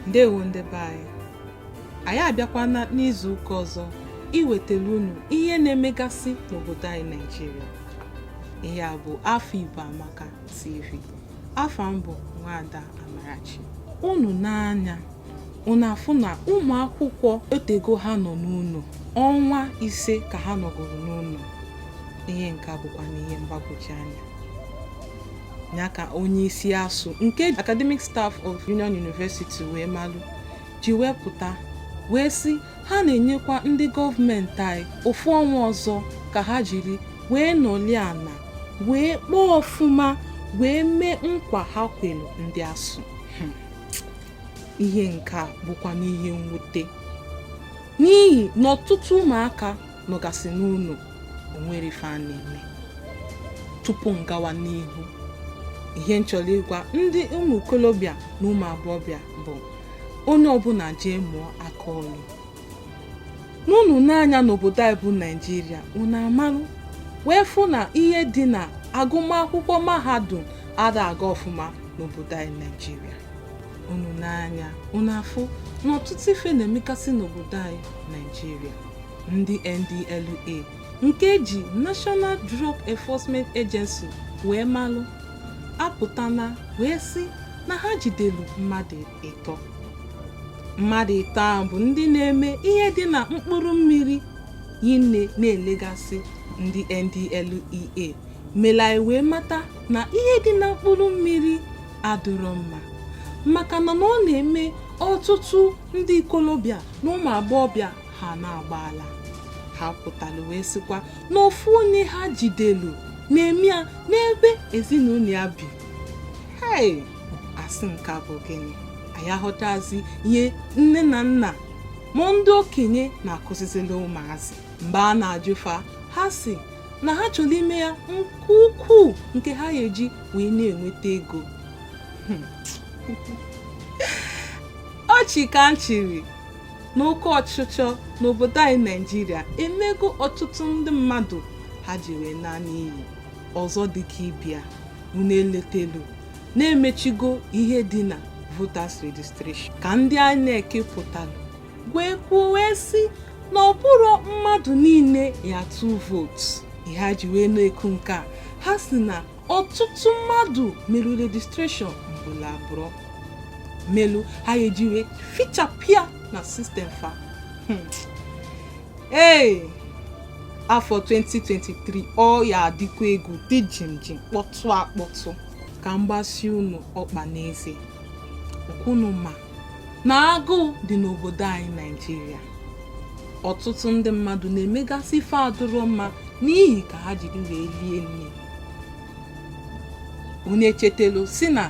ndewo ndị be anyị anyị abịakwana n'izu ụka ọzọ iwetara unu ihe na-emegasị n'obodo anyị naijiria ihe a bụ afọ igbo amaka tv afa m bụ nwaada Amarachi unu nee anya unu afụ na ụmụ akwụkwọ otego ha nọ n'ụnọ ọnwa ise ka ha nọgoro n'ụnọ ihe nke a bụkwanụ ihe mgbagwoju anya ya ka onye isi ASUU nke academic staff of Union University wee malụ ji wee pụta wee sị Ha na-enyekwa ndị gọọmenti anyị ofu ọnwa ọzọ ka ha jiri wee nọlụ ana wee kpaa ọfụma wee mee nkwa ha kwelu ndị ASUU hmm. ihe nke a bụkwanụ ihe mwute n'ihi na ọtụtụ ụmụaka nọgasị n'ụnọ o nwerọ ife ha na-eme tupu m gawa n'ihu ihe m chọrọ ịgwa ndị ụmụ okolobịa na ụmụ agbọghọbịa bụ onye ọbụla jee mụọ aka ọlụ na unu nee anya n'obodo anyị bụ naijiria unu amalụ wee fụ na ihe dị na agụmakwụkwọ mahadum ada aga ọfụma n'obodo anyị naijiria unu nee anya unu afụ na ọtụtụ ife na-emegasị n'obodo anyị naijiria ndị NDLEA nke e ji National Drug Enforcement Agency wee malụ apụtana wee sị na ha jidelu mmadụ ịtọ mmadụ ịtọ ahụ bụ ndị na-eme ihe dị na mkpụrụ mmiri ya na na-elegasị ndị NDLEA mere anyị wee mata na ihe dị na mkpụrụ mmiri adịrọ mma maka na na ọ na-eme ọtụtụ ndị ikolobịa na ụmụ agbọghọbịa ha na-agba ala ha pụtara wee sịkwa na ofu onye ha jidelu na-eme ya n'ebe ezinụnọ ya bi hei a sị nke a bụ gịnị anyị aghọtazi ihe nne na nna ma ndị okenye na-akụzizili ụmụazị mgbe a na-ajụ fa ha sị na ha chọrọ ime ya nke ukwuu nke ha ya-eji wee na-enweta ego hmm. ọchị ka m chịrị na oke ọchịchọ n'obodo anyị naijiria emego ọtụtụ ndị mmadụ ha ji wee naa n'iyi ọzọ dịka ibe ya unu eletelu na e mechigo ihe dị na voters registration ka ndị INEC pụtara wee kwuo wee sị na ọ bụrọ mmadụ niile ya-atụ vootu ihe ha ji wee na-eku nke a ha sị na ọtụtụ mmadụ mere rejistreshọn mgbele abụọ melu ha eji wee fichapụ ya na sistem fa Hmm. ee afọ 2023 ọ ya adịkwa egwu dị jimjim kpọtụ akpọtụ ka m gbasi unu ọkpa n'eze ọkwa unu ma na agụụ dị n'obodo anyị naijiria ọtụtụ ndị mmadụ na-emegasị ife adụrọ mma n'ihi ka ha jiri wee lie nni unu echetelu sị na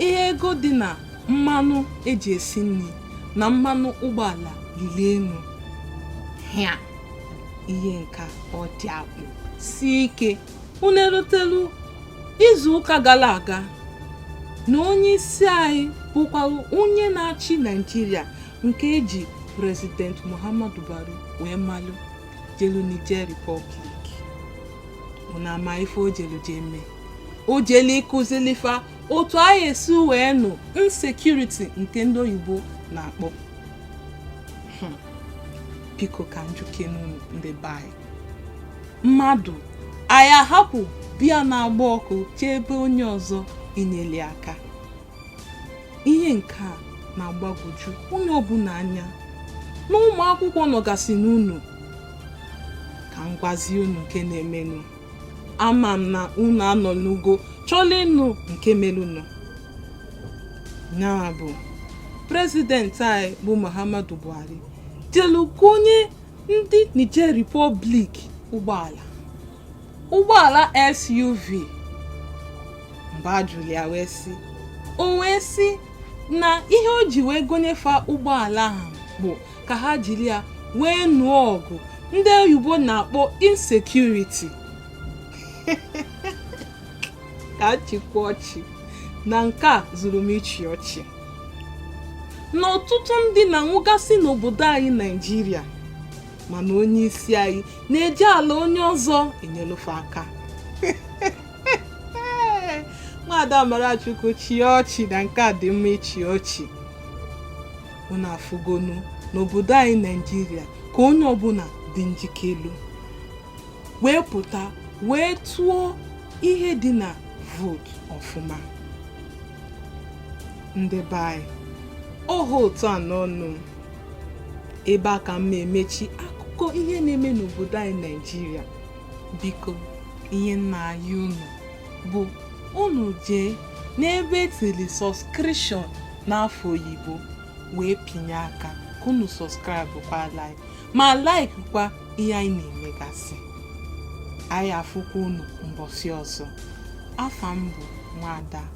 ihe ego dị na mmanụ eji esi nri na mmanụ ụgbọala lili elu hịa ihe nka ọ dị akpụ si ike unu erotelu izu ụka gara aga na onye isi anyị bụkwara onye na-achị naijiria nke eji prezident muhammadu buhari wee malụ jelu Niger Republic unu ama ife o jelu jee mee o jelu ịkuzili fa otu anyị esi wee nụ insecurity nke ndị oyibo na-akpọ hmm. biko ka m jụkenụ ndị be anyị mmadụ ọ ya ahapụ be ya na-agba ọkụ jee be onye ọzọ inyeli aka ihe nke a na-agbagwoju onye ọbụla anya na ụmụ akwụkwọ nọgasị n'ụnọ ka m gwazie unu nke na-emenụ ama m na unu anọnugo chọlụ ịnụ nke melụnụ nya bụ prezidenti anyị bụ muhammadu buhari jelu gonye ndị niger republic ụgbọala ụgbọala SUV mgbe a jụlụ ya wee sị o wee sị na ihe o ji wee gonye fa ụgbọala ahụ bụ ka ha jiri ya wee nụọ ọgụ ndị oyibo na-akpọ insecurity ka a chịkwa ọchị na nke a zuru m ịchị ọchị na ọtụtụ ndị na-anwụgasị n'obodo anyị naijiria mana onye isi anyị na-eje ala onye ọzọ enyelu fa aka nwaada Amarachukwu chịa ọchị na nke a dị mma ịchị ọchị unu afụgonu n'obodo anyị naijiria ka onye ọbụla dị njikelu wee pụta wee tụọ ihe dị na vootu ọfụma ndị be anyị oho ụtọ a n'ọnụ ebe a ka m na-emechi akụkọ ihe na-eme n'obodo anyị naịjirịa biko ihe m na-ayọ unu bụ unu jee n'ebe e tiri subscription n'afa oyibo wee pịnye aka ka unu subscribe kwa like ma like kwa ihe anyị na-emegasị anyị afụkwa unu mbọsị ọzọ afa m bụ nwada